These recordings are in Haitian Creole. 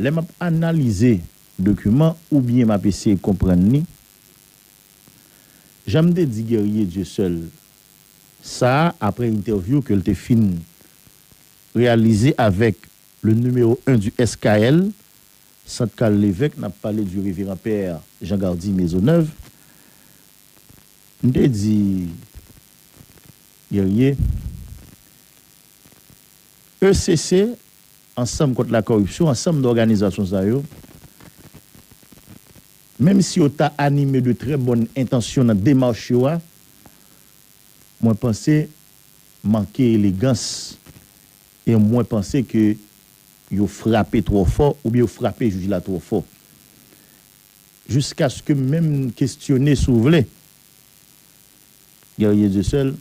Lè m ap analize dokiman oubyen m ap eseye konprann li, jan m te di Guerrier Dieuseul sa a aprè entèvyou ke l te fin reyalize avèk le numéro un du SKL, Sant Carl Levèque, n ap pale du Révérend Père Jean Gardy Maisonneuve, m te di Guerrier, ECC Ansanm kont lakoripsyon, ansanm de òganizasyon sa yo, menm si yo ta anime de trè bòn entansyon nan demach yo a, mwen panse manke elegans e mwen panse ke yo frape twò fò oubyen yo frape jij la twò fò. Jiskaske m menm kestyone si w vle, Guerrier Dieuseul,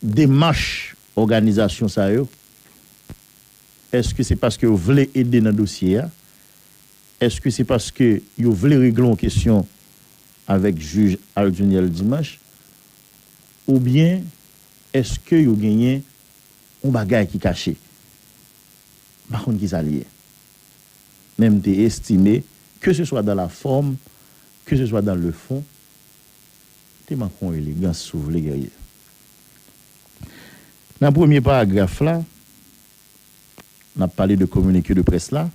demach Òganizasyon sa yo, èske se paske yo vle ede nan dosye a? Èske se paske yo vle regle yon kesyon avèk jij Alduniel Dimanche? Oubyen èske yo genyen yon bagay ki kache? M pa konn kisa li ye. Men m te estime, ke se swa dan la fòm, ke se swa dan le fon, te manke yon elegans si w vle Guerrier. Nan premye paragraf la, n ap pale de kominike de près la.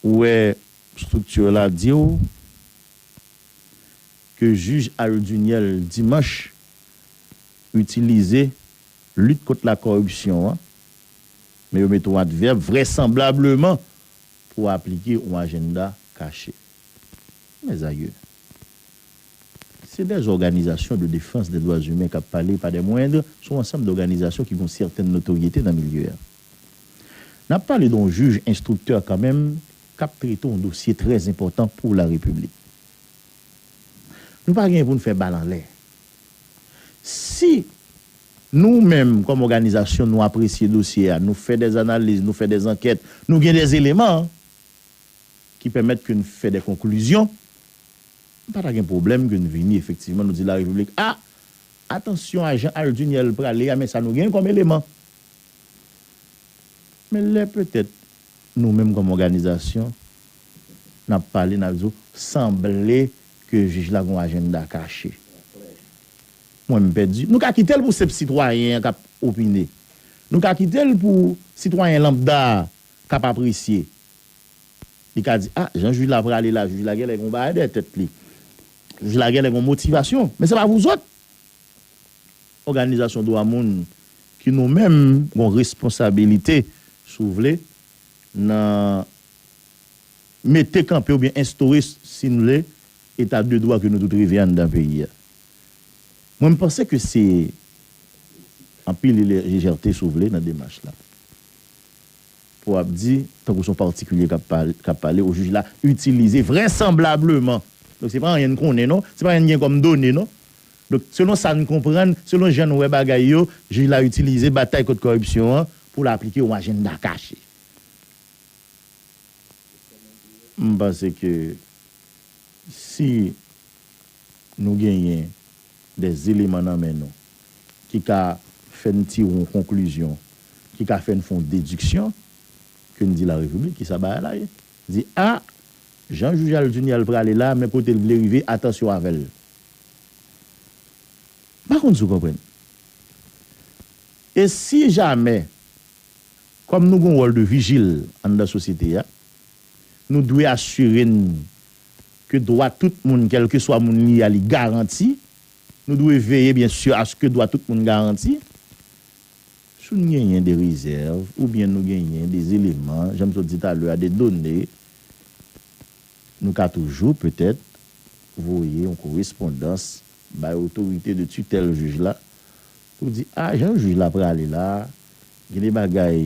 Ou wè structure la di w ke jij Al Duniel Dimanche itilize lit kont la kòripsyon an, men yo mete yon advèb, vrèsanblableman pou aplike yon ajennda kache. Mèzayou! Se dè zòganizasyon de defans dè dwa zimen kap pale pa dè mwendr son ansanm dòganizasyon ki gon sètèn notoryete nan milye a. Nap pale don jij enstriktè kanmenm kap trete yon dosye trè zenpòtan pou la repiblik. Nou pa genyen poun fè bal anlè. Si nou menm kòm òganizasyon nou apresye dosye a, nou fè dè analiz, nou fè dè ankèt, nou gen dè eleman ki pèmèt ke n fè dè konklizyon, M pa ta gen pwoblèm ke n vini efektivman nou di la repiblik a atansyon a jan Al Dunyèl prale a men sa nou gen kòm eleman. Men lè petèt nou menm kòm òganizasyon n ap pale n ap di w sanble ke jij la gen yon ajennda kache. Mwen m pèdi. Nou ka kite l pou senp sitwayen an k ap opine. Nou ka kite l pou sitwayen lanbda a k ap apresye. Li ka di, ah, jan jij la prale la, jij la genlè gen yon bagay dèyè tèt li. Jij la genlè gen yon motivasyon. Men se pa vouzòt! Òganizasyon dwa moun ki nou menm gen yon responsabilite, si w vle, nan mete kanpe oubyen enstore, si n vle, eta de dwa ke nou tout reve anndan peyi a. Mwen m panse ke se anpil lejète, si w vle, nan demach la. Pou ap di, tankou son patikilye kap pale, kap pale o jij la itilize vrèsanblableman. Donk se pa anyen n konnen non, se pa anyen n gen kòm done non. Donk selon sa n konprann, selon jan n wè bagay yo, jij la itilize batay kont kòripsyon an pou l aplike yon ajennda kache. M panse ke si. Nou genyen dè eleman nan men nou ki ka fè n tire yon konklizyon, ki ka fè n fè yon dediksyon, ke n di la Repiblik, ki sa bagay la ye? Di, a! Jan Jujal Dunyal prale la, men kote l vle rive, atansyon avè l. M pa konn si w konprann. E si jamè, kòm nou gen yon wòl de vijil anndan sosyete a, nou dwe asire n ke dwa tout moun kèlkeswa moun li a li garanti, nou dwe veye byen si aske dwa tout moun garanti. Si n genyen de rezèv oubyen nou genyen de eleman, jan m sot di talè a, de done, nou ka toujou petèt voye yon korespondans bay otorite de titèl jij la pou di a jan jij la prale la gen de bagay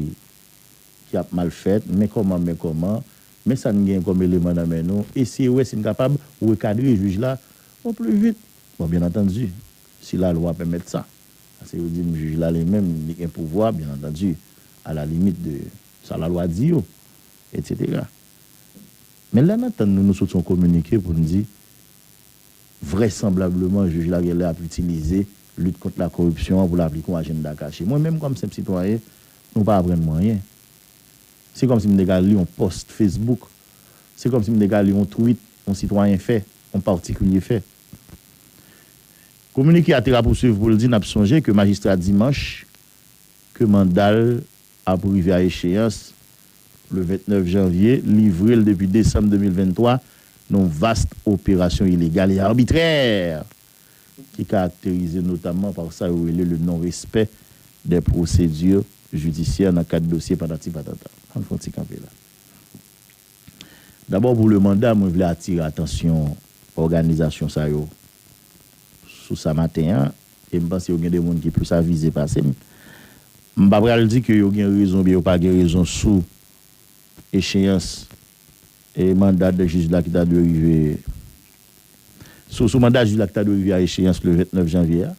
ki ap mal fèt, men kòman men kòman, men sa n gen kòm eleman nan men nou, eseye wè si n kapab rekadre jij la o pli vit. Bon, byen antandi, si lalwa pèmèt sa, paske yo di m jij la li menm li gen pouvwa, byen antandi, a la limit de sa lalwa di yo, etsetera. Men lè n antann nou, nou soti yon kominike pou n di vrèsanblableman jij la gen lè ap itilize lit kont lakoripsyon an pou l aplike yon ajennda kache. Mwen menm kòm senp sitwayen, Nou pa aprann mwen anyen. Se kòmsi m te ka li yon pòst Facebook. Se kòmsi m te ka li yon tweet yon sitwayen fè, yon patikilye fè. Kominike a te rapousuiv pou l di n ap sonje ke majistra Dimanche ke manda l ap rive a echeyans le 29 janvye livre l depi desanm 2023 nan yon vast operasyon ilegal e arbitrè ki karakterize notamman pa sa yo rele le non respè dè pwosedì jidisyè nan kad dosye patati patata. Ann fè yon ti kanpe la. Dabò pou le manda mwen vle atire atansyon òganizasyon sa yo sou sa maten an e m panse yo gen de moun ki plis avize pase m. M pa pral di ke yo gen rezon oubyen yo pa gen rezon sou echeyans e manda dè jij la ki ta dwe rive. Sou manda jij la ki ta dwe rive a echeyans le 29 janvye a,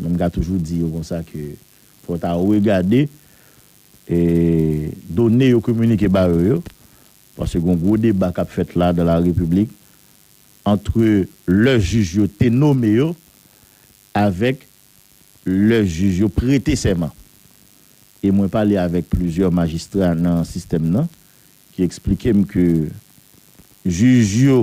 men m ka toujou di yo konsa ke fò w ta regade done yo kominike ba yo yo, paske gen yon gwo deba k ap fèt la dan la repiblik antre lè jij yo te nome yo avèk lè jij yo prete sèman. E mwen pale avèk plizyè majistra nan sistèm nan ki eksplike m ke jij yo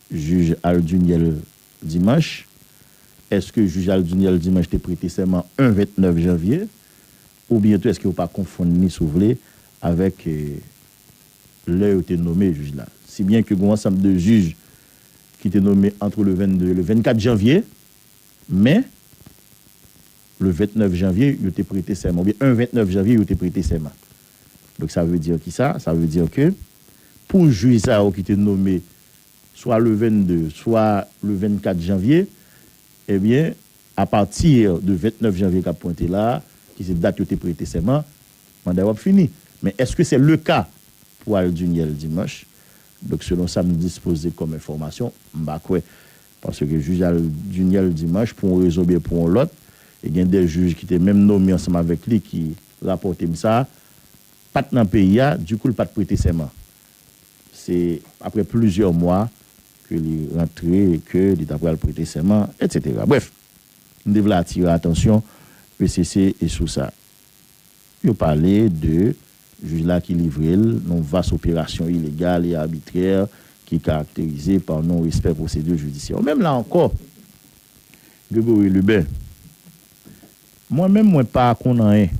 Jij Al Duniel Dimanche, Èske jij Al Duniel Dimanche te prete sèman 1 29 janvye? Oubyen tou èske yo pa konfonn ni si w vle avèk lè yo te nome jij la? Si byen ke gen yon ansanm de jij ki te nome antre le 22 e le 24 janvye, men le 29 janvye yo te prete sèman, oubyen 1 29 janvye yo te prete sèman. Donk sa vle di ki sa? Sa vle di ke pou jij sa yo ki te nome swa le 22 swa le 24 janvye, ebyen a pati de 29 janvye kap pwente la a ki se dat yo te prete sèman, manda yo ap fini. Men eske se le ka pou al Dunyèl Dimanch? Donk selon sa m dispoze kòm enfòmasyon, m pa kwè. Paske jij al Dunyèl Dimanch pou yon rezon oubyen pou yon lòt, e gen 2 jij ki te menm nome ansanm avèk li ki rapòte m sa, pat nan peyi a, dikou l pat prete sèman. Se aprè plizyè mwa ke li rantre e ke li ta pral prete sèman, etsetera. Brèf, m te vle atire atansyon pcc e sou sa. Yo pale de jij la ki livre l yon vas operasyon ilegal e abitrè ki karakterize pa non respè pwosedi jidisyè. Menm la ankò, Gregory Lubin, Mwen menm mwen pa konn anyen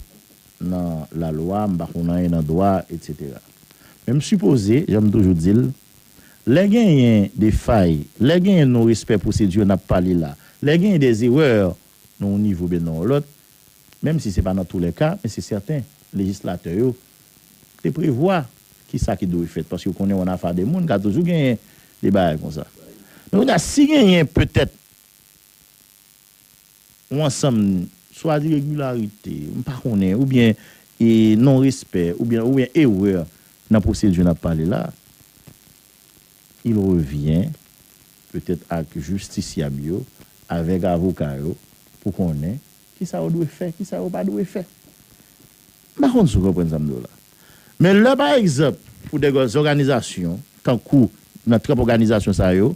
nan lalwa, m pa konn anyen nan dwa etc. Men m sipoze, jan m toujou di l, lè genyen de fay, lè genyen non respè pwosedi yo n ap pale la, lè genyen des erreurs nan yon nivo oubyen nan yon lòt, menm si se pa nan tou lè ka, men se sèten lejislatè yo te prevwa ki sa ki dwe fèt paske yo konnen an afa de moun ka toujou genyen de bagay konsa. Men kounye a si genyen petèt Yon ansanm swazi regilarite, m pa konnen, oubyen e non respè, oubyen oubyen erè nan pwosedi n ap pale la, il revyen petèt ak jistisyab yo, avèk avoka yo pou konnen ki sa yo dwe fè, ki sa yo pa dwe fè. M pa konn si w konprann sa m di w la. Men lè pa egzanp pou dè zòganizasyon tankou nan tranp òganizasyon sa yo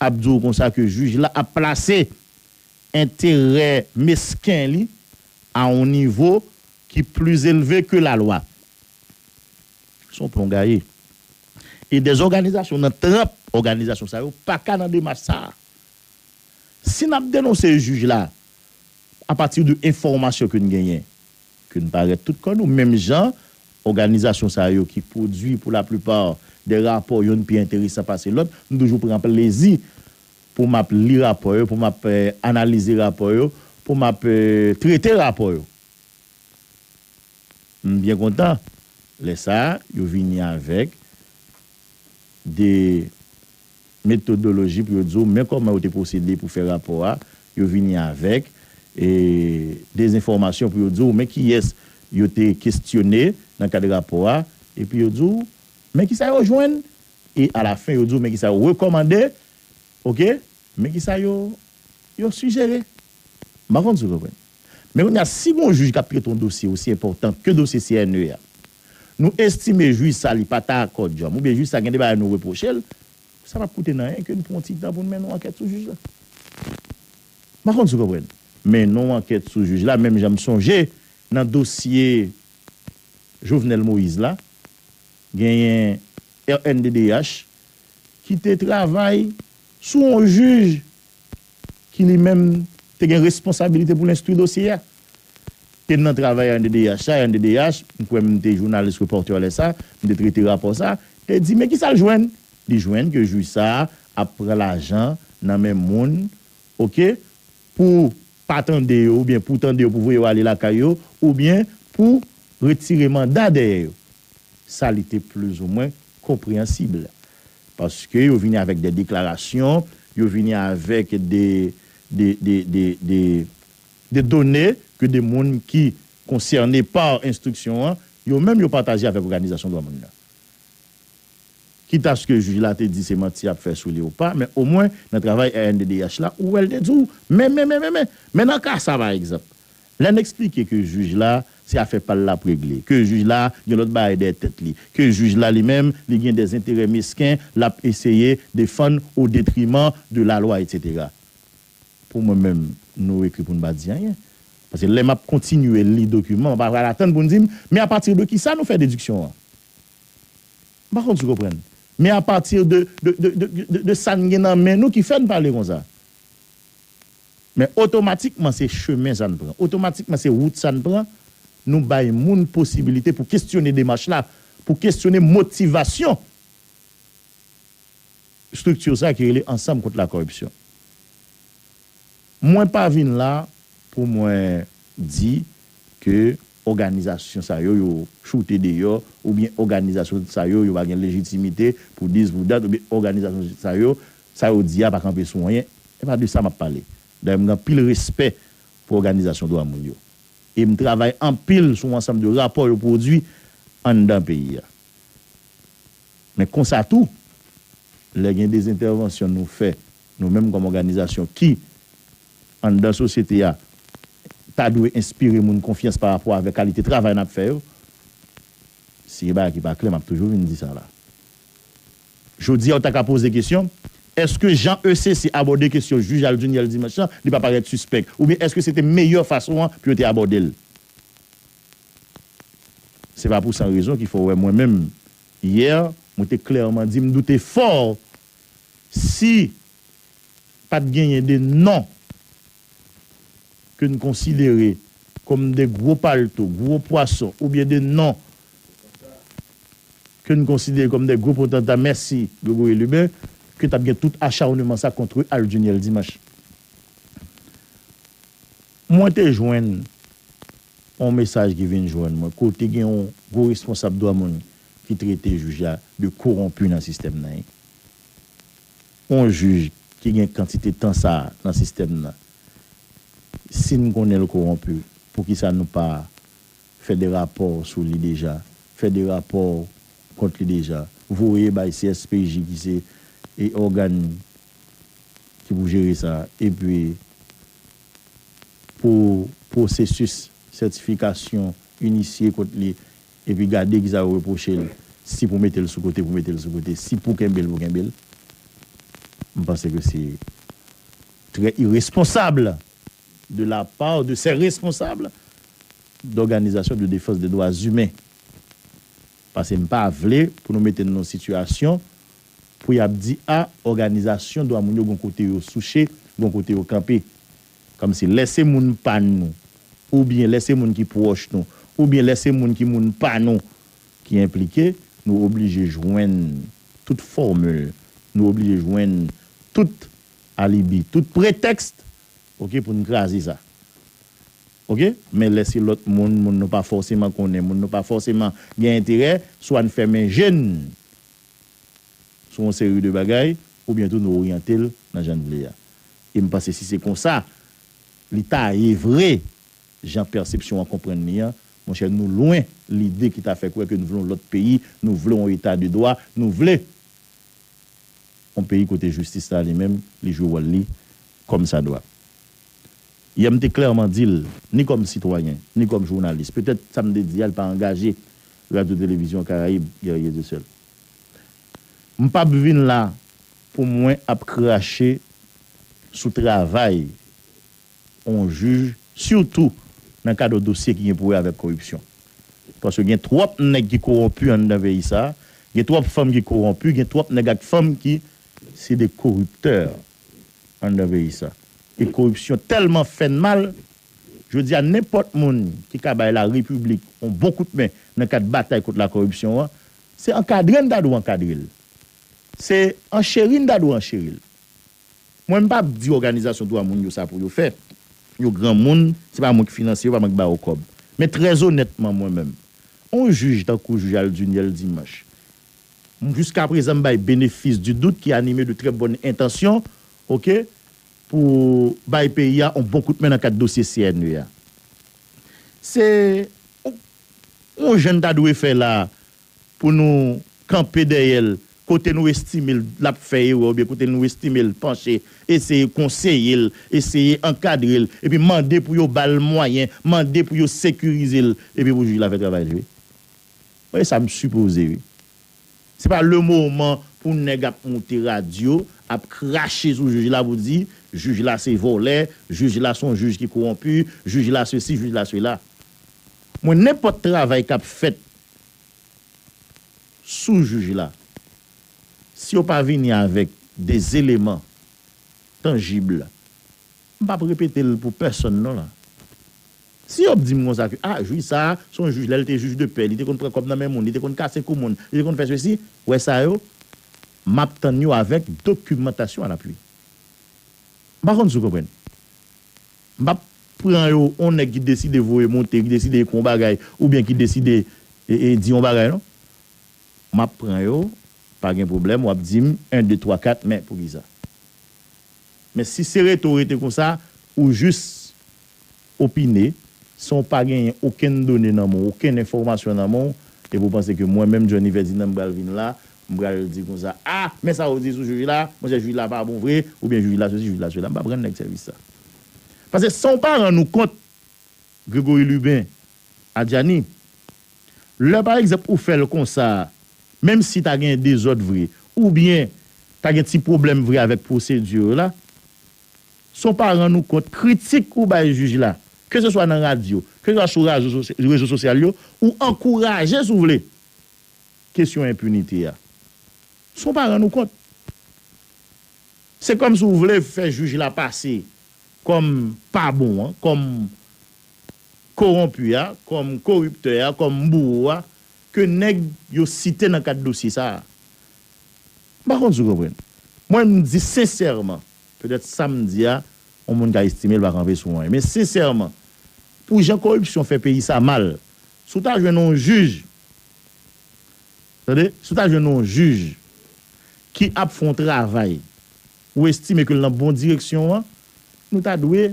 ap di w konsa ke jij la ap plase enterè mesken li a yon nivo ki pli elve ke lalwa. Se yon plon gaye. E dè òganizasyon nan tranp òganizasyon sa yo pa ka nan demach sa a. Si n ap denonse jij la a pati de enfòmasyon ke n genyen, ke n parèt tout kò nou, menm jan òganizasyon sa yo ki pwodui pou laplipa dè rapò yonn pi enteresan pase lòt, nou toujou pran plezi pou m ap li rapò yo, pou m ap analize rapò yo, pou m ap trete rapò yo. M byen kontan lè sa a yo vini avèk de metodoloji pou yo di w men kòman yo te pwosede pou fè rapò a, yo vini avèk de enfòmasyon pou yo di w men kiyès yo te kestyone nan kad rapò a, epi yo di w men kisa yo jwenn E a la fen yo di w men kisa yo rekòmande ok, men kisa yo yo sijere. M pa konn si w konprann. Men kounye a si gon jij k ap trete yon dosye osi enpòtan ke dosye CNE a, nou estime jij sa li pa ta kòdyòm oubyen jij sa gen de bagay nou repwoche l, sa p ap koute nan anyen ke n pran yon ti tan pou n mennen yon ankèt sou jij la. M pa konn si w konprann. Mennen yon ankèt sou jij la menm jan m sonje nan dosye Jovenel Moïse la. Genyen rnddh ki te travay sou yon jij ki li menm te gen responsabilite pou l enstwi dosye a. E m nan travay rnddh sa, rnddh, m kwè m te jounalis repòtè lè sa, m te trete rapò sa, te di men ki sa l jwenn? Li jwenn ke jij sa ap pran lajan nan men moun, ok, pou pa tande yo oubyen pou tande yo pou voye yo ale lakay yo oubyen pou retire manda dèyè yo. Sa li te plizoumwen konpreyansib. Paske yo vini avèk de deklarasyon, yo vini avèk de, de, de, de, de, de done ke de moun ki konsène pa enstriksyon an, yo menm yo pataje avèk òganizasyon dwa moun nan. Kit aske jij la te di se manti y ap fè sou li ou pa, men omwen nan travay rnddh la, ou wè l te di w men, men, men, men, men. Men nan ka sa pa egzanp, lè n esplike ke jij la se afè pa l l ap regle, ke jij la gen lòt bagay dèyè tèt li, ke jij la li menm li gen dè enterè mesken l ap eseye defann o detriman de lalwa etsetera. Pou mwen menm, nou ekri pou n pa di anyen. Paske lè m ap kontinye li dokiman, m pa pral atann pou n di m men apatide kisa nou fè dediksyon an. M pa konn si w konprann. Men a pati de, de, de, de, de, de sa n gen nan men nou ki fè n pale konsa. Men otomatikman se chemen sa n pran, otomatikman se wout sa n pran, nou bay moun posibilite pou kesyone demach la, pou kesyone motivasyon estrikti sa ki rele Ansanm Kont Lakoripsyon. Mwen pa vin la pou mwen di ke òganizasyon sa yo yo choute deyò oubyen òganizasyon sa yo yo pa gen lejitimite pou dis pou dat oubyen òganizasyon sa yo sa yo di a pa kanpe sou anyen. E pa de sa m ap pale. Dayè m gen anpil respè pou òganizasyon dwa moun yo e m travay anpil sou ansanm de rapò yo pwodui anndan peyi a. Men konsa tou, lè gen dezentèvansyon nou fè Nou menm kòm òganizasyon ki, anndan sosyete a, ta dwe enspire moun konfyans pa rapò avèk kalite travay n ap fè yo. Si gen bagay ki pa klè, m ap toujou vin di sa la. Jodi a ou ta ka poze kesyon, èske jan ECC abòde kesyon jij al Duniel Dimanche lan, li pa parèt sispèk? Oubyen èske se te meyè fason an pou yo te abòde l? Se pa pou san rezon ki fè w wè mwen menm, yè, mwen te klèman di m doute fò Si pat genyen 2 non ke n konsidere kòm 2 gwo palto, gwo pwason oubyen 2 non ke n konsidere kòm 2 gwo potanta, mèsi Gregory Lubin, ke t ap gen tout acharnement sa contre Al Duniel Dimanche. Mwen te jwenn. On mesaj ki vin jwenn mwen kote gen on gwo responsab dwa moun ki trete jij la de koronpi nan sistèm nan. On jij ki gen kantite tan sa a nan sistèm nan, si n konnen l koronpi, poukisa nou pa fè de rapò sou li deja, fè de rapò kont li deja, voye bay CSPJ ki se ògàn ki pou jere sa, epi pou pwosesis sètifikasyon inisye kont li epi gade ki sa yo repwoche l, si pou mete l sou kote pou mete l sou kote, si pou kenbe l pou kenbe l. M panse ke se trè iresponsab de la part de ces responsables d'organisations de défense des droits humains. Pase m pa vle pou nou mete n nan yon sitiyasyon pou y ap di a òganizasyon dwa moun yo gen yon kote yo souche, gen yon kote yo kanpe. Kòmsi lè se moun pa nou oubyen lè se moun ki pwòch nou oubyen lè se moun ki moun pa nou ki enplike, nou oblije jwenn tout fòmil, nou oblije jwenn tout alibi, tout pretèks ok pou n kraze sa. Ok men lè se lòt moun moun nou pa fòseman konnen moun nou pa fòseman gen enterè swa n fèmen je n sou yon seri de bagay oubyen tou nou oryante l nan jan n vle a e m panse si se konsa li ta ye vre jan pèsepsyon an konprann li an monchè nou lwen lide ki ta fè kwè ke n vle yon lòt peyi nou vle yon eta de dwa nou vle yon peyi kote jistis la li menm li jwe wòl li kòmsadwa. Yè m te klèman di l, ni kòm sitwayen, ni kòm jounalis, petèt sa m te di a li pa angaje Radyo Televizyon Karayib, Guerrier du Ciel. M pa p vin la pou mwen ap krache sou travay on jij, sitou nan kad on dosye ki gen pou wè avèk koripsyon. Paske gen twòp nèg ki kowonpi anndan peyi sa a, gen twòp fanm ki kowonpi, gen twòp nèg ak fanm ki se de koriptè. anndan peyi sa. E koripsyon tèlman fè n mal, jodi a nenpòt moun ki ka bay la repiblik yon bon kout men nan kad batay kont la koripsyon an, se ankadre n ta dwe ankadre l. Se ancheri n ta dwe ancheri l. Mwen m pa p di òganizasyon dwa moun yo sa pou yo fè, yo granmoun, se pa mwen ki finansye yo, pa mwen ki ba yo kòb. Men trèzonètman mwen menm, yon jij tankou jij Aldunyèl Dimanch Juska prezan m bay benefis di dout ki anime de trè bòn entansyon ok pou bay peyi a on bon kout men nan kad dosye CNE a. Se on jan n ta dwe fè la pou nou kanpe dèyè l kote nou estime l l ap fè erè oubyen kote nou estime l panche eseye konseye l, eseye ankadre l epi mande pou yo ba l mwayen, mande pou yo sekirize l epi pou jij la fè travay li wi. Mwen e sa m sipoze wi. Se pa le moman pou nèg ap moute radyo ap krache sou jij la pou di jij la se vòlè, jij la son jij ki kowonpi, jij la sesi, jij la sela. Mwen nenpòt travay kap fèt sou jij la si yo pa vini avèk de eleman tanjib m pap repete l pou pèsonn non la. Si yo ap di m konsa ke ah jij sa a se yon jij lè l te jij de pè li te konn pran kòb nan men moun, li te konn kase kou moun, li te konn fè sesi, wè sa yo, m ap tann yo avèk dokimantasyon a lapui. M pa konn si w konprann. M pa pran yo yon nèg ki deside voye monte, ki deside ekri yon bagay oubyen ki deside di yon bagay non. M ap pran yo, pa gen pwoblèm w ap di m 1, 2, 3, 4 men poukisa. Men si se rete w rete konsa, ou jis opine, san w pa genyen okenn done nan men w, okenn enfòmasyon nan men w, epi w panse ke mwen menm Johnny Ferdinand m pral vin la, m pral di konsa, a! Men sa yo di sou jij la, monchè jij la pa bon vre, oubyen jij la sosi, jij la sola. M p ap rann nèg sèvis sa. Pase san w pa rann ou kont, Grégory Lubin, Adjani, lè pa egzanp ou fè l konsa, menm si ta gen dezòd vre, oubyen ta gen ti pwoblèm vre avèk pwosedi yo la, Son pa rann ou kont kritik ou bay jij la, ke se swa nan radyo, ke se swa sou rezo sosyal yo, ou ankouraje si w vle kesyon enpinite a. Son pa rann ou kont. Se kòm si w vle fè jij la pase kòm pa bon an, kòm kowonpi a, kòm koriptè a, kòm bouwo a, ke nèg yo site nan kad dosye sa a. M pa konn si w konprann. Mwen m di sensèman, petèt sa m di a, yon moun ka estime l pa kanpe sou anyen. Men sensèman, pou jan koripsyon fè peyi sa mal, si w ta jwenn yon jij, tande, si w ta jwenn yon jij ki ap fè yon travay ou estime ke l nan bon direksyon an, nou ta dwe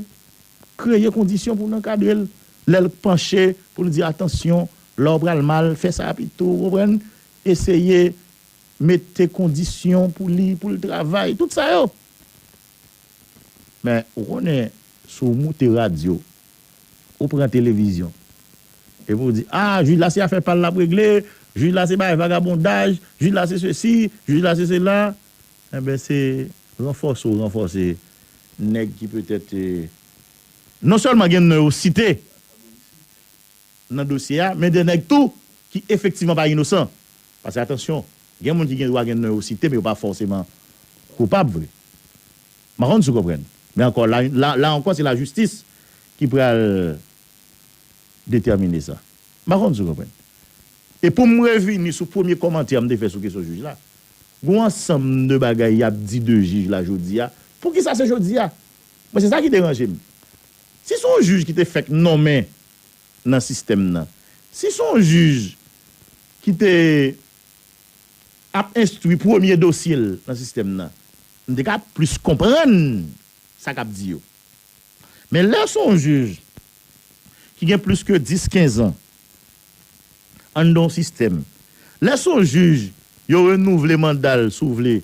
kreye kondisyon pou n ankadre l. Lè l panche pou l di atansyon, la w pral mal, fè sa pito, w konprann, eseye mete kondisyon pou li pou l travay tout sa yo men ou konnen si w moute radyo ou pran televizyon epi w di a jij la se afè pa l l ap regle jij la se bagay vagabondaj jij la se sesi jij la se sela enben se ranfòse w ranfòse nèg ki petèt non sèlman gen non yo site. nan dosye a, men 2 nèg tou ki efektivman pa inosan. Pase atansyon, gen moun ki gen dwa gen non yo site men yo pa fòseman koupab vre. M pa konn si w konprann. Men ankò, la yon, la, la ankò se lajistis ki pral detèmine sa. M pa konn si w konprann. E pou m revini sou premye kòmantè m te fè sou kesyon jij la, gen yon ansanm de bagay y ap di de jij la jodi a, poukisa se jodi a? Mwen se sa ki deranje m. Si se yon jij ki te fèk nonmen nan sistèm nan. Si son jij ki te ap enstwi premye dosye l nan sistèm nan, m te ka plis konprann sa k ap di yo. Men lè son jij ki gen plis ke 10, 15 an anndan yon sistèm, lè son jij yo renouvle manda l si w vle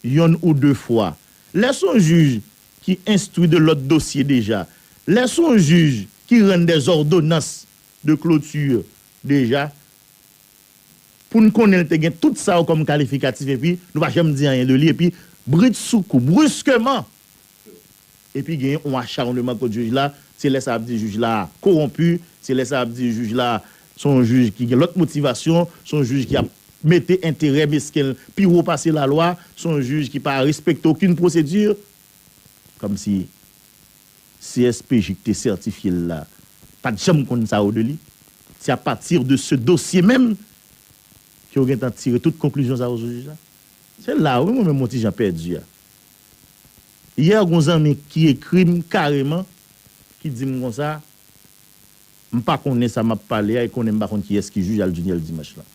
yonn ou de fwa, lè son jij ki enstwi de lòt dosye deja, lè s on jij ki rann dè zòdonans de kloti deja, pou n konnen l te gen tout sa yo kòm kalifikatif epi nou pa janm di anyen de li epi britsoukou, briskeman, epi gen on acharnement kont jij la, se lè sa y ap di jij la kowonpi, se lè sa y ap di jij la Se yon jij ki gen lòt motivasyon, se yon jij ki ap mete enterè mesken l pi wo pase lalwa, se yon jij ki pa respekte okenn pwosedi. Kòmsi CSPJ ki te sètifye l la pa t janm konn sa yo de li? Se apati de se dosye menm ke yo gentan tire tout konklizyon sa yo sou jij la? Se la wi mwen menm yon ti jan pèdi a. Yè gen yon zanmi ki ekri m kareman, ki di m konsa, M pa konnen sa map pale a e konnen m pa konn kiyès ki jij al Duniel Dimanche lan.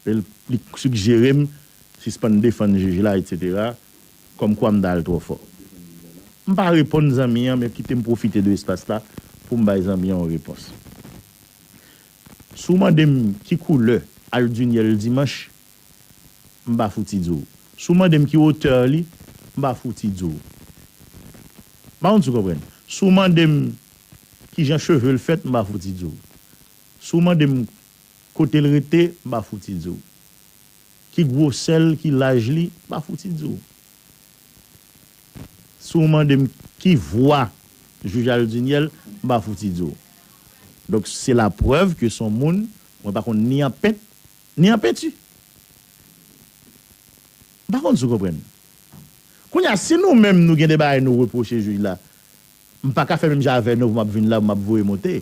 E l li sigjere m sispann defann jij la etc. Kòm kwa m ta al twò fò. M pa reponn zanmi an men kite m pwofite de espas la pou m bay zanmi an yon repons. Si w mande m ki koulè al Duniel Dimanche m pa fouti di w. Si w mande m ki auteur li, m pa fouti di w. M pa konn si w konprann. Si w mande m ki jan cheve l fèt, m pa fouti di w. Si w mande m kote l rete, m pa fouti di w. Ki gwosè l, ki laj li, m pa fouti di w. Si w mande m ki vwa jij Aldunyèl, m pa fouti di w. Donk se laprèv ke s on moun mwen pa konn ni an pent, Ni an penti. M pa konn si w konprann. Kounye a, si nou menm nou gen de bagay nou repwoche jij la, m pa ka fè menm jan avè nou pou m ap vin la pou m ap voye monte.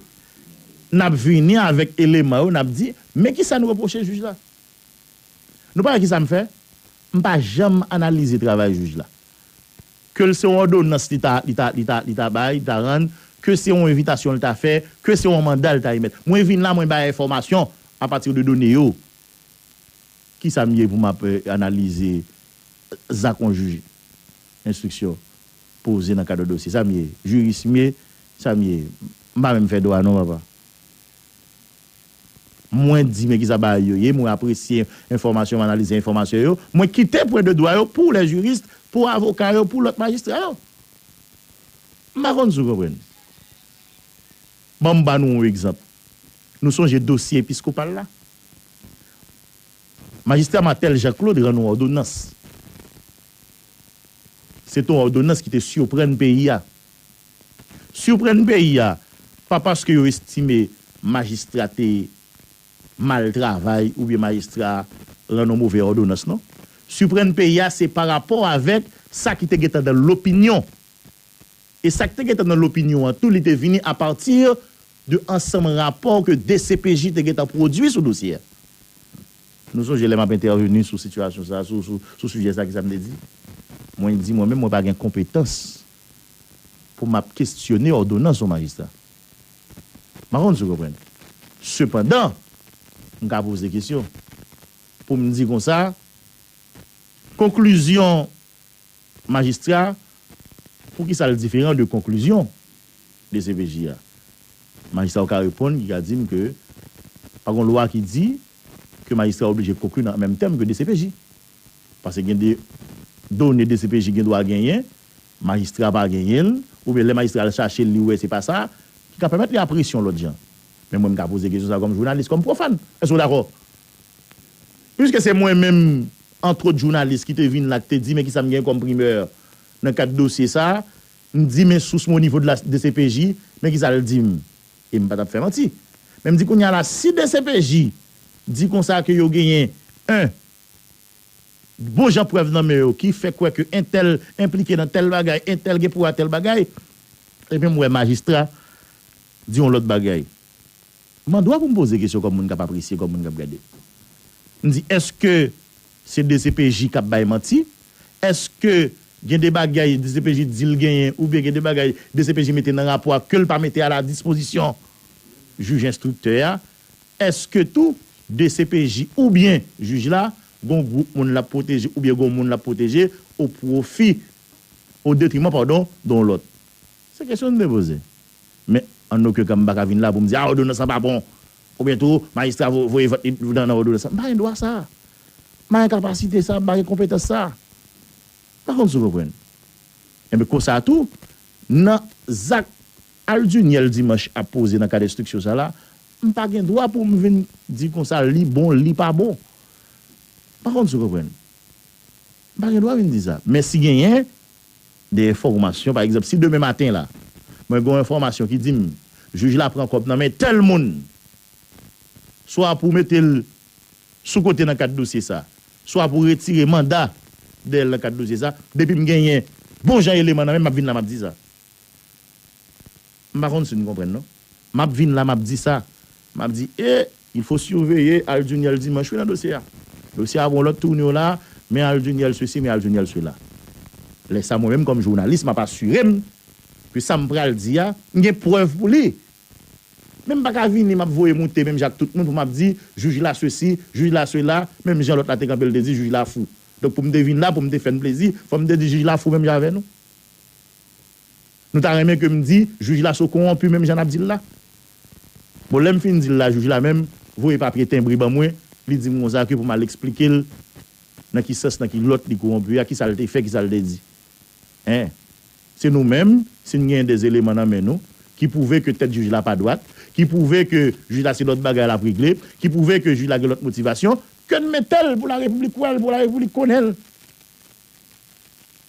N ap vini avèk eleman yo, n ap di, men kisa n repwoche jij la. Nou pa wè kisa m fè? M pa janm analize travay jij la. ke l se yon òdonans li ta, li ta, li ta, li ta bay, li ta rann, ke se yon envitasyon l ta fè, ke se yon manda l ta emèt. Mwen vin la, mwen bay enfòmasyon apati de done yo. Ki sa m ye pou m ap analize zak yon jij enstriksyon poze nan kad yon dosye? Sa m ye? Jiris m ye? Sa m ye? M pa menm fè dwa non, papa. Mwen di men kisa bagay yo ye, mwen apresye enfòmasyon, m analize enfòmasyon yo, mwen kite pwen de dwa yo pou les juristes, pou avoka yo, pou lòt majistra yo. M pa konn si w konprann. Ban m ba nou yon egzanp. Nou sonje dosye episkopal la? Majistra Martel Jean Claude rann yon òdonans. Se te yon òdonans ki te siprann peyi a. Surprenn peyi a pa paske yo estime majistra te mal travay oubyen majistra rann yon move òdonans non. Surprenn peyi a se parapò avèk sa ki te gentan nan lopinyon. E sa ki te gentan nan lopinyon an tou li te vini a pati de ansanm rapò ke dcpj te gentan pwodui sou dosye a. Nou sonje lè m ap entèveni sou sitiyasyon sa a, sou sijè sa a kisa m te di? Mwen di mwen menm mwen pa gen konpetans pou m ap kestyone òdonans yon majistra. M pa konn si w konprann. Sepandan, m ka poze kesyon pou m di konsa, konklizyon majistra a, pou ki sa l diferan de konklizyon dcpj a? Majistra yo ka reponn, ki ka di m ke pa gen yon lwa ki di ke majistra oblije konkli nan menm tèm ke dcpj. Paske gen de done dcpj gen dwa genyen Majistra pa genyen l, oubyen lè majistra al chache l li wè se pa sa, ki ka pèmèt li a presyon lòt jan. Men mwen m ka poze kesyon sa kòm jounalis, kòm pwofàn. Èske w dakò? Piske se mwen menm, antwot jounalis ki te vin la ki te di men kisa m gen kòm primè nan kad dosye sa, m di men sous mwen onivo de la dcpj, men kisa l di m. E m pa t ap fè manti. Men m di kounye a la si dcpj di konsa ke yo genyen 1. bon jan prèv nan men yo ki fè kwè ke entèl enplike nan tèl bagay, entèl gen pou a tèl bagay, epi m wè majistra di yon lòt bagay. M andwa pou m poze kesyon kòm moun k ap apresye, kòm moun k ap gade. M di, èske se dcpj k ap bay manti? Èske gen de bagay dcpj di l genyen oubyen gen de bagay dcpj mete nan rapò a ke l pa mete a la dispozisyon jij enstriktè a Eske tou dcpj oubyen jij la gon gwoup moun lap pwoteje oubyen gon moun lap pwoteje o pwofi, o detriman padon don lòt? Se kesyon m vle poze. Men an oken ka m pa ka vin la pou m di a òdonans lan pa bon oubyen tou majistra voye vant li nan òdonans lan. M pa gen dwa sa. M pa gen kapasite sa, m pa gen konpetans sa. M pa konn si w konprann. Enben konsa tou nan zak Al Duniel Dimanche ap poze nan kad enstriksyon sa la, m pa gen dwa pou m vin di konsa li bon, li pa bon. M pa konn si w konprann. M pa gen dwa vin di sa. Men si genyen de enfòmasyon, pa egzanp, si demen maten la, mwen gen yon enfòmasyon ki di m jij la pran kòb nan men tèl moun, swa pou mete l sou kote nan kad dosye sa, swa pou retire manda dèyè l nan kad dosye sa, depi m genyen bon jan eleman nan men m, m ap vin la m ap di sa. M pa konn si n konprann non. M ap vin la m ap di sa. M ap di e il faut surveiller Al Duniel Dimanche wi nan dosye a. Dosye a pran lòt tournure la, men Al Duniel ceci, men Al Duniel cela. Lè sa mwen menm kòm jounalis m ap asire m ke sa m pral di a, m gen prèv pou li. Men m pa ka vini m ap voye moute menm jan ak tout moun pou m ap di jij la ceci, jij la cela, menm jan lòt la te kanpe l te di jij la fou. Donk pou m te vin la pou m te fè n plezi, fò m te di jij la fou menm jan avè nou. Nou ta renmen ke m di jij la so konwonpi menm jan nap dil la? Bon lèm fin dil la jij la menm voye papye tenbre ban mwen li dim konsa ke pou mal esplikel nan ki sans nan ki lòt li konwonpi a kisal te fè kisal te di en se nou menm sin gen de eleman nan men nou ki pwouve ke tèt jij la pa dwat ki pwouve ke jij la se lòt bagay lap regle ki pwouve ke jij la gen lòt motivasyon ken metel pou la repiblik wèl pou la repiblik konnenl.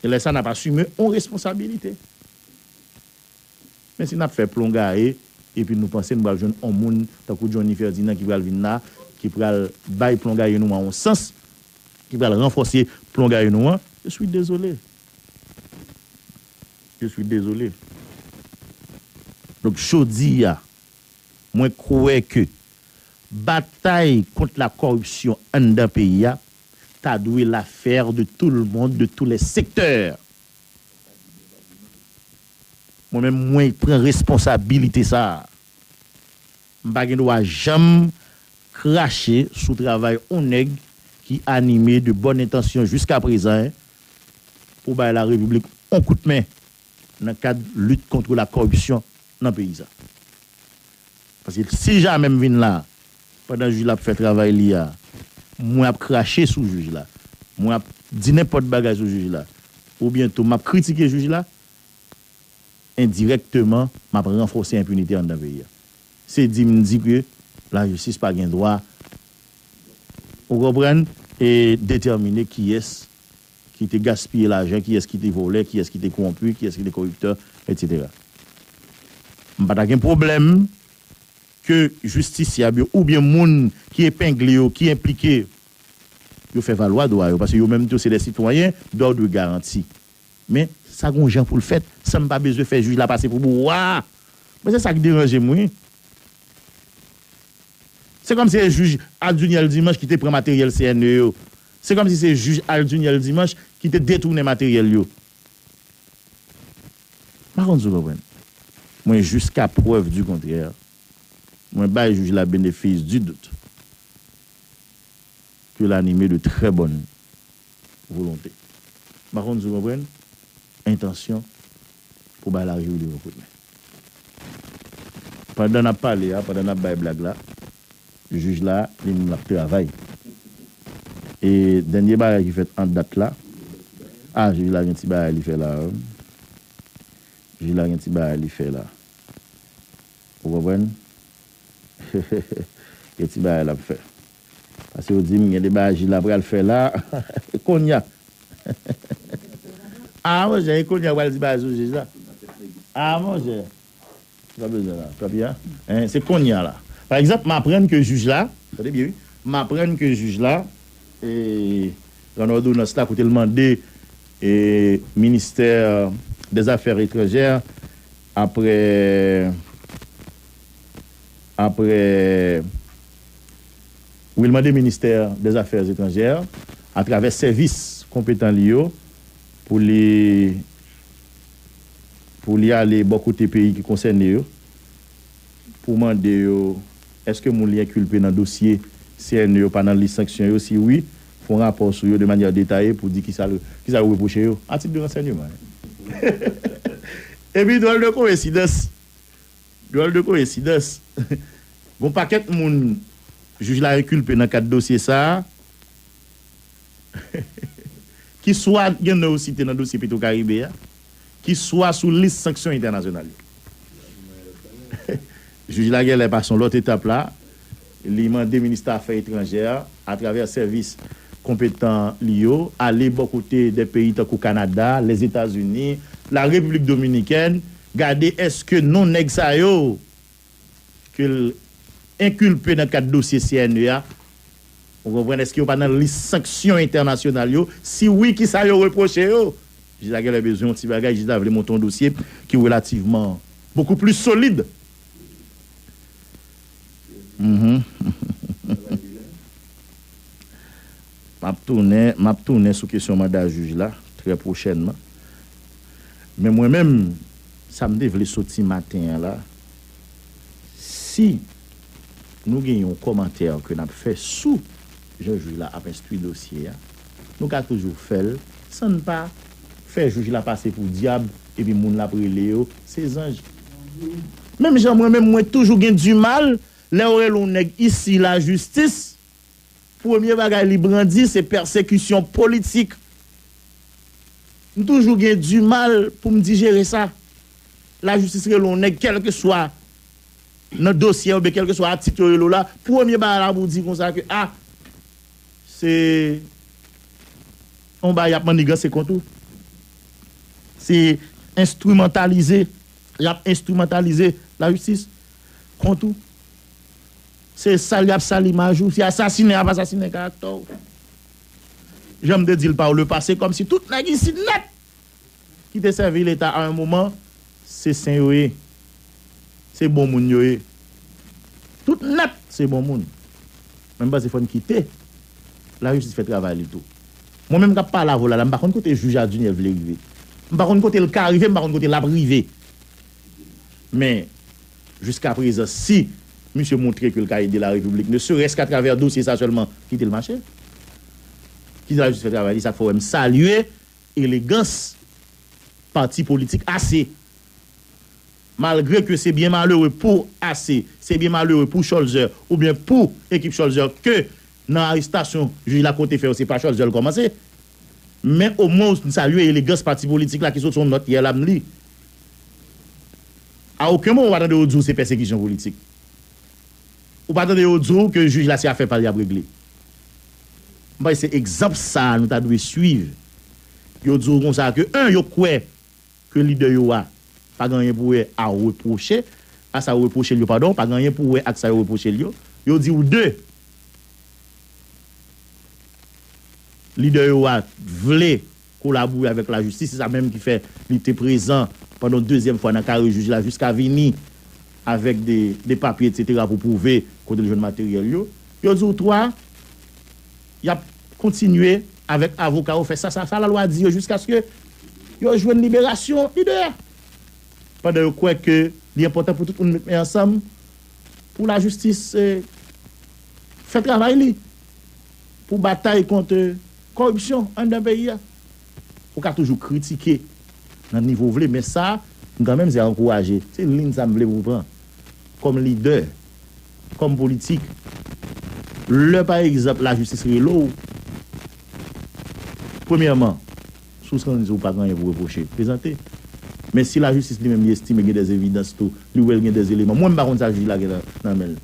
E lè sa nap asime on responsabilite. Men si nap fè plon gaye epi nou panse nou pral jwenn on moun tankou Johnny Ferdinand ki pral vin la, ki pral bay plon gaye nou an on sans, ki pral ranfòse plon gaye nou an, je suis désolé. Je suis désolé. Donk jodi a, mwen kwè ke batay kont la kòripsyon anndan peyi a ta dwe l'affaire de tout le monde, de tous les secteurs. Mwen menm mwen pran responsabilite sa a. M pa gen dwa janm krache sou travay on nèg ki anime de bonne intention jusqu'à présent pou bay la République on kout men. nan kad lit kontre la kòripsyon nan peyi sa. Paske si jamè m vin la, pandan jij la ap fè travay li a, mwen ap krache sou jij la, mwen ap di nenpòt bagay sou jij la, oubyen tou m ap kritike jij la, endirèkteman m ap ranfòse enpinite anndan peyi a. Se di m di ke lajistis pa gen dwa, ou konprann, e detèmine kiyès Ki te gaspiye lajan, kiyès ki te vòlè, kiyès ki te kowonpi, kiyès ki te koriptè, etc. M pa ta gen pwoblèm ke jistisyab yo oubyen moun ki epengle yo, ki enplike yo fè valwa dwa yo paske yo menm tou se dè sitwayen d'ordre garanti. Men, sa gon jan pou l fèt san m pa bezwen fè jij la pase pou bouwa! Mwen se sa k deranje m wi. Se kòmsi e jij Aduniel Dimanche ki te pran materyèl CNE yo Se kòmsi se jij Al Duniel Dimanche ki te detounen materyèl yo. M pa konn si w konprann. Mwen jiska prèv di kontrè, mwen bay jij la benefis di dout ke l anime de trè bòn volonte. M pa konn si w konprann entansyon pou bay lavi w li yon kout men. Pandan n ap pale a, pandan n ap bay blag la, jij la, li menm l ap travay. E dènye bagay ki fèt an dat la, ah jij la gen ti bagay li fè la a wi. Jij la gen ti bagay li fè la. Ou konprann? Gen ti bagay l ap fè. Pase yo dim gen de bagay Gila pral fè la e konnya aa monchè e konnya ou pral di bagay sou jij la aa monchè sa w bezwen la papi a hein se konnya la pa egzanp m aprann ke jij la tande byen wi m aprann ke jij la ee rann òdonans la kote l mande ee ministè dèzafè etranjè aprè aprè. Pou yo mande ministè dèzafè etranjè atravè sèvis konpetan li yo pou li pou li ale bò kote peyi ki konsène yo pou mande yo èske moun li enkilpe nan dosye cne yo pa nan lis sanksyon yo si wi fè yon rapò sou yo de manyè detaye pou di kisa kisa yo repwoche yo a tit de ransènyeman. Epi dwòl de koensidans. Dwòl de koyensidans, gon pakèt moun jij la enkulpe nan kad dosye sa a, ki swa gen non yo site nan dosye Petwokaribe a, ki swa sou lis sanksyon entènasyonal yo. Jij la genlè pa son lòt etap la. Li mande Minista Afè Etranjè a, atravè sèvis konpetan li yo, ale bò kote de peyi tankou Kanada, Lèzetazini, La Repiblik Dominikèn, gade èske non nèg sa yo ke l enkilpe nan kad dosye CNE a, ou konprann, èske yo pa nan lis sanksyon entènasyonal yo, si wi ki sa yo repwoche yo? Jij la genlè bezwen yon ti bagay, jij la vle monte yon dosye ki relativman bokou plis solid. Map tounen map tounen sou kesyon manda jij la trè pwochènman. Men mwen menm sa m te vle soti maten an la, si nou gen yon kòmantè ke n ap fè sou. jan jij la ap enstwi dosye a, nou ka toujou fè l san n pa fè jij la pase pou dyab epi moun l ap rele yo se zanj. Menm jan mwen menm mwen toujou gen dimal lè yo rele yon nèg isi lajistis, premye bagay li brandi se pèsekisyon politik. M toujou gen dimal pou m dijere sa. Lajistis rele yon nèg kèlkeswa. Nan dosye a oubyen kèlkeswa atik yo rele w la, premye bagay la pou w di konsa ke a se yon bagay y ap manniganse kont ou, se enstrimantalize, y ap enstrimantalize lajistis kont ou, se sal y ap sal imaj ou, se asasinen y ap asasinen karaktè w. Jan m te di l pa w lepase, kòmsi tout nèg isit nèt Ki te sèvi leta a un moman se sen yo ye se bon moun yo ye tout nèt se bon moun men m panse fòn kite lajistis fè travay li tou mwen menm kap pale avw la la m pa konn kote jij a Duniel vle rive m pa konn kote l ka rive m pa konn kote lap rive men jiska prezan si misye montre ke l ka ede la repiblik ne serès ka travè dosye sa sèlman kite l mache kite lajistis fè travay li sak fè w wè m salye Elegans pati politik AC. Malgre ke se byen malere pou AC, se byen malere pou Cholzer oubyen pou ekip Cholzer ke nan arestasyon jij la konte fè yo se pa Cholzer l kòmanse. Men omwen ou salye elegans pati politik la ki sot son nòt yè la m li. A oken moman ou pa tande yo di w se pèsekisyon politik. Ou pa tande yo di w ke jij la se afè pa l y ap regle? M panse se egzanp sa a nou ta dwe suiv. Yo di w konsa ke 1 yo kwè ke lidè yo a pa gen anyen pou wè a repwoche a sa yo repwoche l yo padon, pa gen anyen pou wè ak sa yo repwoche l yo. Yo di w 2 lidè yo a vle kolabore avèk lajistis, se sa menm ki fè li te prezan pandan dezyèm fwa nan kare jij la jiska vini avèk de papye etsetera pou pwouve kote l jwenn materyèl yo. Yo di w 3, y ap kontinye avèk avoka yo fè sa sa lalwa di yo jiskaske yo jwenn liberasyon li 2 a. Pandan yo kwè ke li enpòtan pou tout moun met men ansanm pou lajistis fè travay li. pou batay kont koripsyon anndan peyi a. Ou ka toujou kritike nan nivo ou vle men sa m kan menm se ankouraje, se yon lin sa m vle pou pran kòm lidè, kòm politik. Lè pa egzanp lajistis rele w, premyèman, Si w santi w pa gen anyen pou w repwoche, prezante. Men si lajistis li menm li estime gen dè evidans tou, li wè l gen dè eleman, mwen m pa konn sa jij la gen nan men l.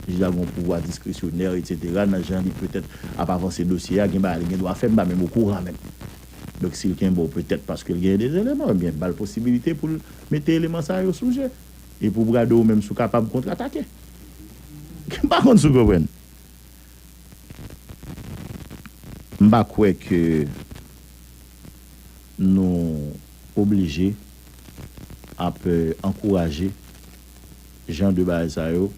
Jij la gen yon pouvwa diskresyonè etsetera nan jan li petèt ap avanse dosye a, gen bagay li gen dwa fè m pa menm okouran menm. Donk si l kenbe w petèt paske l gen dè eleman, ebyen ba l posibilite pou l mete eleman sa yo sou je e pou brado ou menm si w kapab kontratake. M pa konn si w konprann. M pa kwè ke nou oblije ap ankouraje jan de bagay sa yo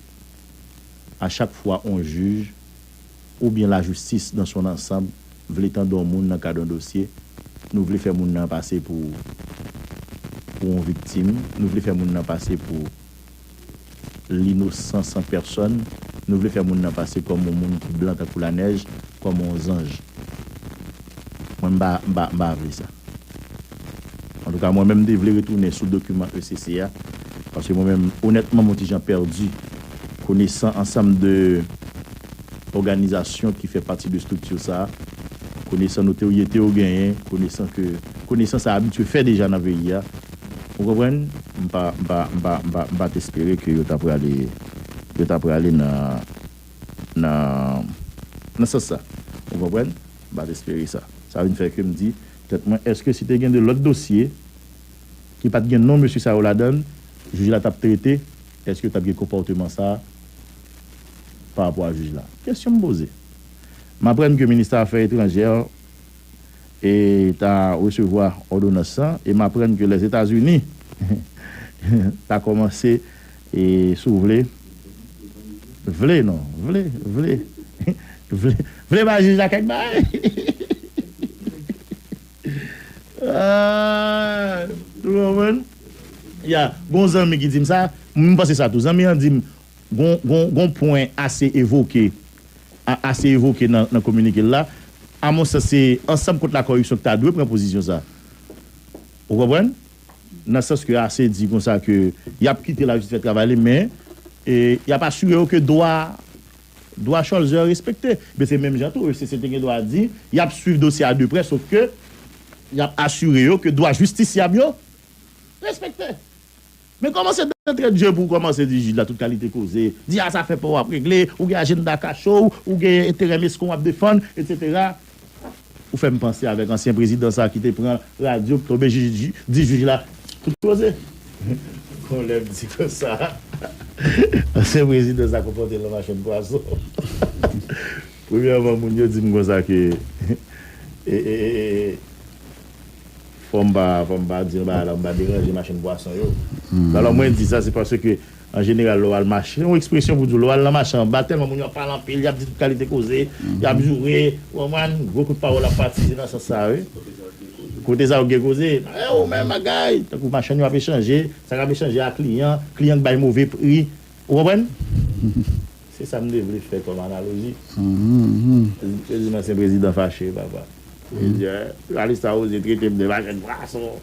a chak fwa on jij oubyen lajistis dan son ansanb vle tande on moun nan kad on dosye, nou vle fè moun nan pase pou on viktim, nou vle fè moun nan pase pou. Linosan san pèsòn, nou vle fè moun nan pase kòm yon moun ki blan tankou lanèj, kòm yon zanj. Mwen m pa, m pa, m pa vle sa. Antouka, mwen menm m te vle retounen sou dokiman ECC a, paske mwen menm, onètman, m yon ti jan pèdi, konesan ansanm de òganizasyon ki fè pati de estrikti sa a, konesan notoriyete yo genyen, konesan ke, konesan sa abitye fè deja nan peyi a. Ou konprann? M pa, m pa, m pa, m pa, m pa t espere ke yo ta prale, yo ta prale nan, nan, nan sans sa. Ou konprann? M pa t espere sa. Sa vin fè ke m di tèt mwen, èske si te gen 2 lòt dosye ki pa t gen non mesye sa yo ladan l, jij la t ap trete, èske t ap gen konpòteman sa parapò a jij la? Kesyon m poze. M aprann ke Minista Afè Etranjè e ta resevwa òdonans sa, e m aprann ke Lèzetazini ta kòmanse e si w vle, vle non, vle, vle, vle, vle bay jij la kèk bagay. Aah! Ou konprann? Ya, gen yon zanmi ki di m sa, m panse sa tou. Zanmi an di m, gen yon pwen ase evoke. a ase evoke nan kominike l la, a mon sans se Ansanm kont lakoripsyon ki ta dwe pran pozisyon sa a. Ou konprann? Nan sans ke ase di konsa ke y ap kite lajistis fè travay li men y ap asire yo ke dwa dwa Cholzer respekte. Men se menm jan tou ECC te gen dwa di y ap swiv dosye a de prè sof ke y ap asire yo ke dwa jistisyab yo respekte. Men kòmanse dantre dje pou w kòmanse di jij la tout kalite koze, di a zafè pa w ap regle, ou gen ajennda kache w, ou gen enterè mesken w ap defann, etsetera. Ou fè m panse avèk ansyen prezidan sa ki te pran radyo pou tonbe jij di jij la tout koze. Kon lè m di konsa, ansyen prezidan sa konpòte l an machann pwason. Premyèman moun yo di m konsa ke e. Fòm pa fòm pa di yon bagay la pou m pa deranje machann pwason yo. Bon lò mwen di sa se paske an jeneral lè w al mache se yon ekspresyon pou di w lè w al nan mache an ba tèlman moun yo ap pale anpil y ap di tout kalite koze y ap joure ou konprann gwo kout pawòl ap pati se nan sans sa a wi kote sa yo k gen koze e ou menm bagay tankou machann yo ap echanje sa k ap echanje a kliyan kliyan k bay move pri ou konprann. Se sa m te vle fè kòm analoji. Yo di m ansyen prezidan fache papa. Yo di a jounalis sa oze trete m de machèt pwason.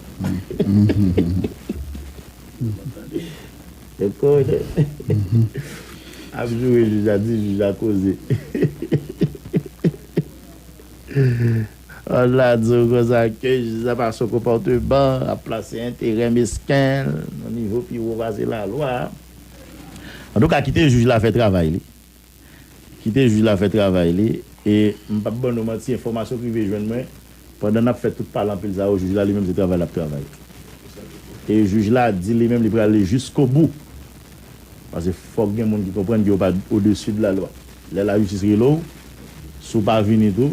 Yo konnen. Ap joure jij la di jij la koze. An la di w konsa ke jij la pa sou konpòteman, ap plase enterè mesken l nan nivo pi wo pase lalwa. Antouka kite jij la fè travay li kite jij la fè travay li e m pap ban nou manti enfòmasyon k rive jwenn mwen pandan nap fè tout pale anpil sa yo jij la li menm se travay lap travay e jij la di li menm li prale jiskobou pase fòk gen moun ki konprann ke yo pa odesi de la lwa lè lajistis rele w si w pa vini tou.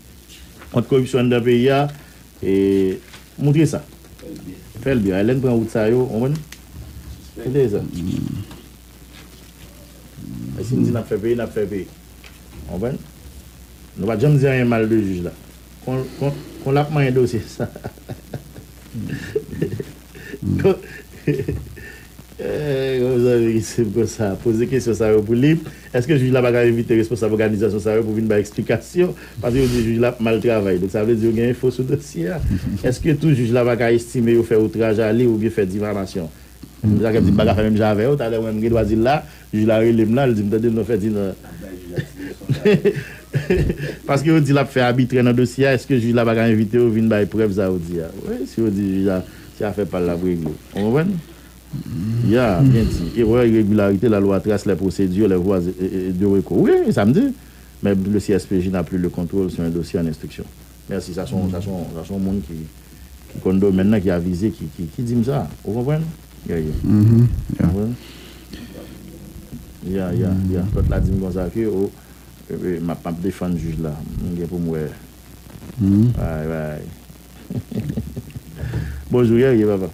Kont koripsyon anndan peyi a e moutre sa. Fè l byen. Lè n pran wout sa yo, konprann? Moutre sa. E si n di n ap fè peyi, n ap fè peyi. Konprann? Nou pa t janm di anyen mal de jij la. Kon l ap manyen dosye sa. Kòm zanmi ki swiv kou sa a poze kesyon sa yo pou li, èske jij la pa ka envite responsab òganizasyon sa yo pou vin bay eksplikasyon? Paske yo di jij la ap mal travay. Donk sa vle di yo gen enfo sou dosye a. Èske tou jij la pa ka estime yo fè outraj a li oubyen fè difamasyon? Jakèt di m pa ka fè menm jan avè yo. Talè mwen m gen dwa di l la. Jij la rele m la, li di m tande non Ferdinand paske yo di l ap fè abitrè nan dosye a èske jij la pa ka envite yo vin bay prèv sa yo di a wi si yo di jij la se afè pa l l ap regle ou konprann ya byen di erè iregilarite la lwa tras lè pwosedire lè vwa de reko wi e sa m di mè le CSPJ n a pli le kontwol sou en dosye an enstriksyon mèsi sa son sa son sa son moun ki ki konn domèn nan ki avize ki ki di m sa ou konprann. Yeah yeah Mhmm yeah Ou konprann Yeah yeah yeah Lòt la di m konsa ke o Epi m ap defann jij la M gen pou m wè Mhmm Bagay bagay Bonjou Yeah yeah papa.